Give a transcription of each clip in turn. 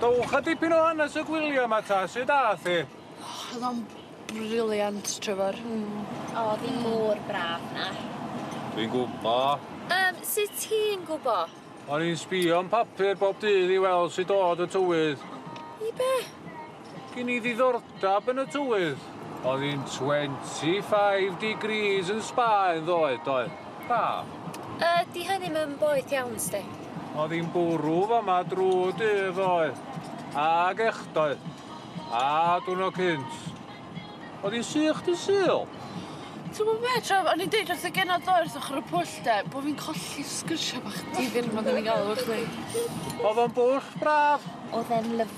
Dowcha dipyn o hanes y gwylia 'ma ta, su' dath hi? Oh o'dd o'n brilliant Trefor. Hmm. O o'dd 'i mor braf 'na. Dwi'n gwbo. Yym sut ti'n gwbo? O'n i'n sbïo yn papur bob dydd i weld sut o'dd y tywydd. I be'? Gin i ddiddordab yn y tywydd. Oedd hi'n 25 degrees yn Sbaen ddoe, doedd? Braf. Yy, 'di hynny'm yn boeth iawn i sti? Oedd hi'n bwrw fama drw dydd ddoe. Ag echdoe. A dwrnod cynt. Oedd hi'n sych dy Sul? Ti'n gwybod be, Trev, o'n i'n deud wrth y genod ddoe wrth ochr y pwll de, bo fi'n colli'r sgyrsia bach difyr 'ma 'da ni'n gael efo chdi. Oedd o'n bwll braf. Oedd e'n lyfli.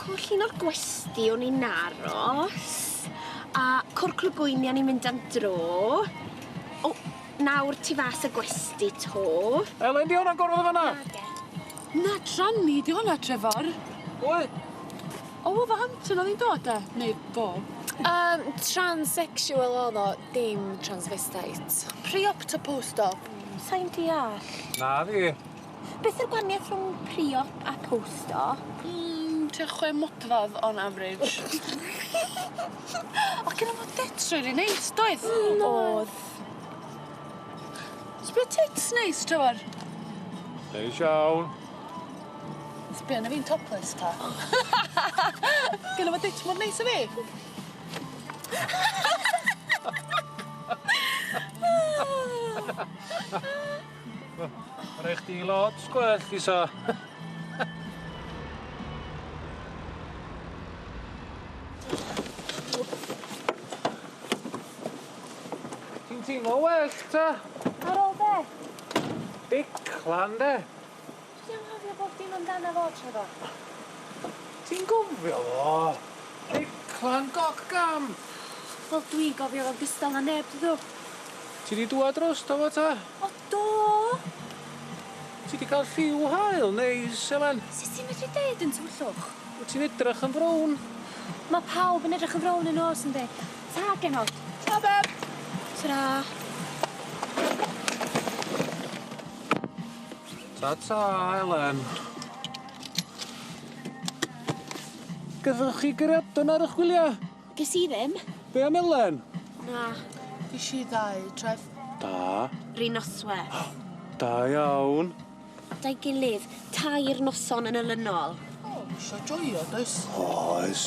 Cwrl un o'r gwesty o'n i'n aros a cwrl clwb bwyni o'n i'n mynd am dro. O, nawr tu fas y gwesty 'to. Elen, 'di hwnna'n gorwedd yn fan 'na? Nage. Na, tranny 'di hwnna, Trefor. Pwy? O, Wolverhampton oedd hi'n dod de? Neu fo? Yym, transsexual oedd o, dim transvestite. Pre-op ta post-op? Sai'n deall. Na fi. Beth yw'r gwahaniaeth rhwng pre-op a post-op? Mm, tua chwe modfadd on average. O'dd gynno fo tits rili neis, doedd? Hmm, o'dd. Sbia tits neis, Trevor. Neis iawn. Sbia na fi'n topless ta. Gynno fo tits mor neis a fi. Mae rhaid chdi lot gwell i sa. Ti'n teimlo well ta? Ar ôl be? Big clan de. Dwi 'di anghofio bob dim amdano fo, Trevor. Ti'n gofio fo? Declan Goc Gam! Wel, dwi'n gofio fo'n gystal na neb, dw. Ti 'di dwad drosto fo 'ta? O, do! Ti 'di ca'l lliw haul neis, Elen. Sut ti'n medru deud yn tywyllwch? Wt ti'n edrach yn frown. Ma' pawb yn edrach yn frown yn nos, yndi? Ta, genod. Ta, beb. Tara. Ta ta, Elen. Gathoch chi gariadon ar ych gwylia? Ges i ddim. Be am Elen? Na. Gesh i ddau, Trev. Da. Ry nosweth. Da iawn. Da'i gilydd, tair noson yn olynol. O, isio joio, does? Oes.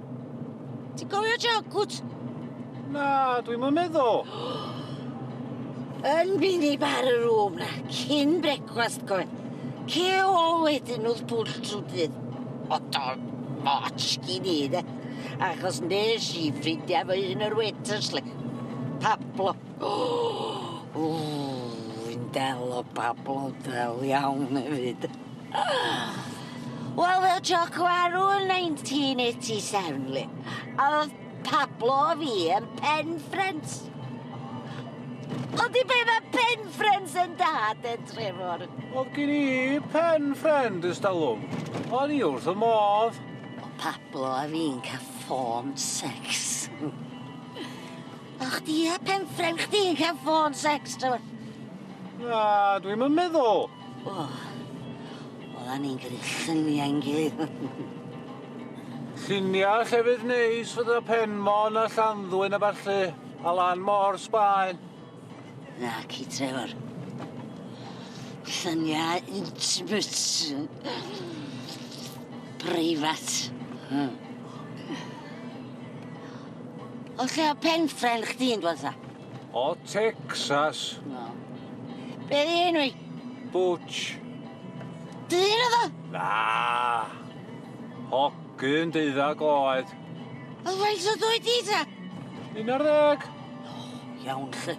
Ti'n cofio Jalcwt? Na, dwi'm yn meddwl. Yn mynd i bar y rŵm na, cyn brecwast coen. Ce ôl wedyn wrth bwll trwy dydd. Odol moch gin i, de. Achos nes i ffrindiau fy hun yr waiters, le. Pablo. Ww, fi'n del o Pablo del iawn hefyd. Wel fel joc warw yn 1987 li. A o'dd Pablo a fi yn pen ffrynt. Ydi be' ma' pen ffrynt yn da de Trefor? O'dd gin i pen ffrynt ers talwm. O'n i wrth fy modd. O' Pablo a fi'n ca'l ffôn secs. O' chdi a pen ffrynt chdi'n ca'l ffôn secs Trefor? Na dwi'm yn meddwl. O, oeddan ni'n gyrru lluniau yn gilydd. Lluniau llefydd neis fydda Penmon a Llanddwyn a ballu, a lan mor Sbaen. Na, ci Trevor. Lluniau intimate. Preifat. Hmm. O lle o pen ffren chdi'n dwasa? O Texas. Na. Be di enw i? Butch. Dyn oedd o? Na. Hogyn deuddag oed. Oedd faint o dwy di ta? Un ar ddeg. Iawn, lle.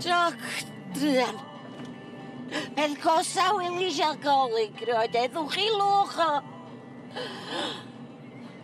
Joc, druan. Peth gosa wylis alcoholig, roed edwch i lwch o.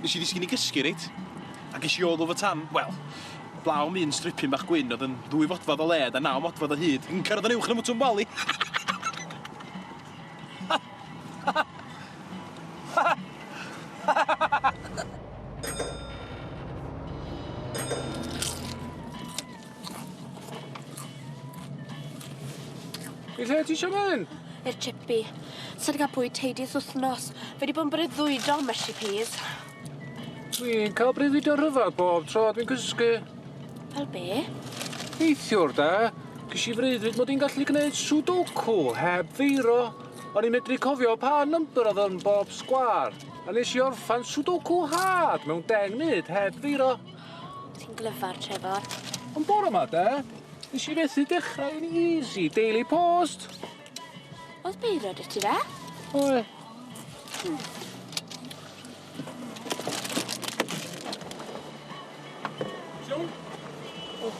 Nes i ddisgyn i gysgu reit, a ges i all over tan, wel, blaw am un stripyn bach gwyn oedd yn ddwy fodfadd o led a naw modfadd o hyd, yn cyrraedd yn uwch na Mwtwm Bali! I lle ti isio mynd? I'r chippy. Sa di cael bwyd teidi ys wthnos. Fe di bod yn breuddwydo am y shippies. Dwi'n cael breuddwydio rhyfedd bob tro dwi'n cysgu. Fel be? Neithiwr da, gysi i freuddwyd mod i'n gallu gwneud sudoku heb feiro. O'n i'n medru cofio pa number oedd yn bob sgwar. A nes i orffan sudoku hard mewn deng munud heb feiro. Ti'n glyfar, Trefor. Ond bore 'ma 'de, nes i fethu dechrau yn easy, daily post. Oedd beiro 'dy ti fe? Oedd. Siôn? O,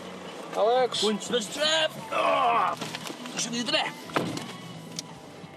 Alex. Wynt yn y stref! O! Nes i ddweud e?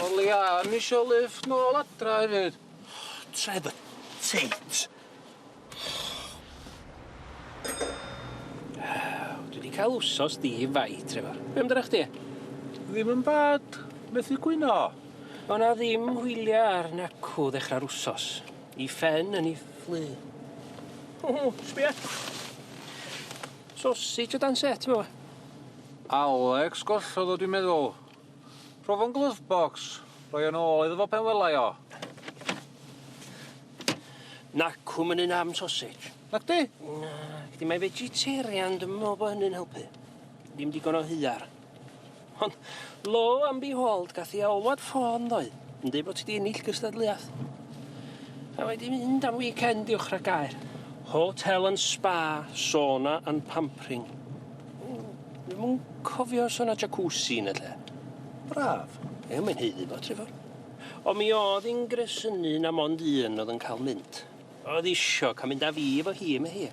O leia am isio lift nôl adra efyd. Tref y teit. Dwi 'di cael wsos di fai, Trevor. Be' amdanach chdi? Ddim yn bad. Methu cwyno. O' 'na ddim hwylia ar nacw ddechrau'r wsos. I Fen yn 'i fflu. Ww, sbia. Sosej o dan set efo fo. Alex gollodd o dwi'n meddwl. Profo'n glove box, rhoi o'n ôl iddo fo pen welai o. Nac, hwm yn un am sausage. Nac di? Nac di, mae vegetarian, dwi'n meddwl bod hynny'n helpu. Ddim digon o hyar. Ond, lo am behold, gath i alwad ffôn ddoe, yn dweud bod ti di ennill gystadleuaeth. A mae di mynd am weekend i'w chragair. Hotel and spa, sauna and pampering. Dwi'm yn cofio os o' 'na jacuzzi yn y lle. Braf. Ie mae'n haeddu fo Trefor. Ond mi o'dd 'i'n gresynu na mond un o'dd yn ca'l mynd. O'dd isio ca'l mynd â fi efo hi ym Mhei.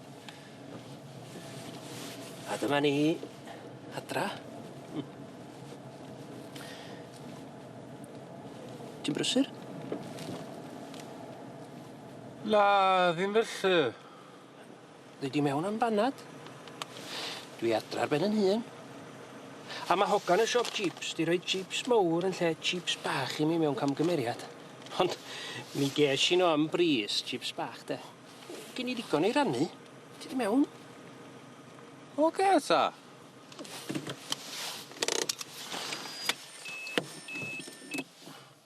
A dyma ni adra. Hmm. Ti'n brysur? Na, ddim felly. Dwi di mewn am banad. Dwi adra ar ben yn hun. A ma hogan y siop jeeps di roi jeeps mowr yn lle jeeps bach i mi mewn camgymeriad. Ond mi gesh i no am bris, jeeps bach de. Gin i ddigon i rannu. Ti di mewn? Oce ta.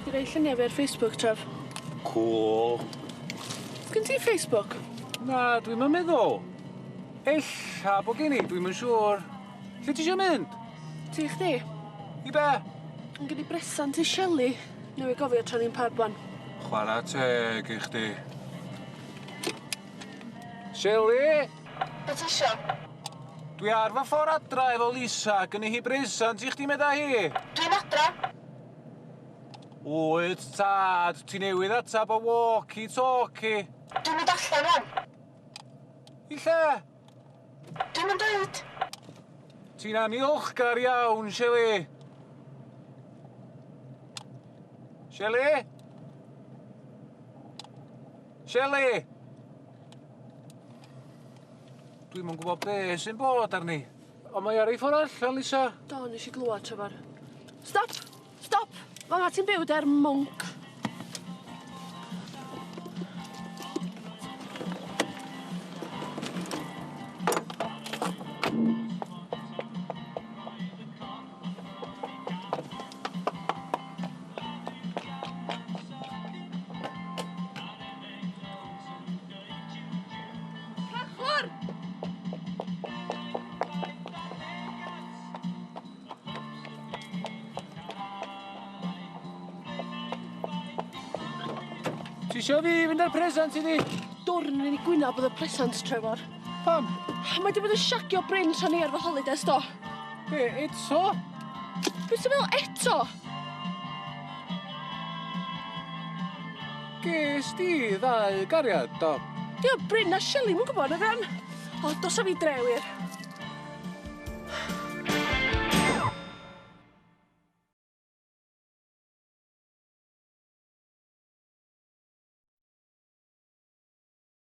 Dwi di roi lluniau fi ar Facebook, Trev. Cŵl. Sgyn ti Facebook? Na, dwi'm yn meddwl. Ella bo' gen i, dwi'm yn siŵr. Lle ti isio mynd? Ti i chdi. I be'? Yn gen i bresant i Shelley. Newydd gofio tra ni'n pub ŵan. Chwara teg i chdi. Shelley! Be ti isio? Dwi ar fy ffor adra efo Lisa, gynni hi bresant i chdi meda hi. Dwi'n adra. Wyt tad, ti newydd atab y walkie talkie. Dwi'n mynd allan rwan. I lle? Dwi'm yn deud. Ti'n anniolchgar iawn, Shelley. Shelley? Seli! Dwi'm yn gwybod be sy'n bod arni. Ond mae ar ei ffordd allan, Lisa. Do, nes i glwad, Trefor. Stop! Stop! Fama ti'n byw der mwnc. Ti isio fi fynd â'r presant iddi? Dorri ni gwynab oedd y presant, Trefor. Pam? Mae di bod yn siagio Bryn tra ni ar fy holidays do. Be, eto? Be ti'n meddwl eto? Ges di ddau gariad do? Di o Bryn a Shelley mwyn gwybod na gan? O, dos a fi dre wir.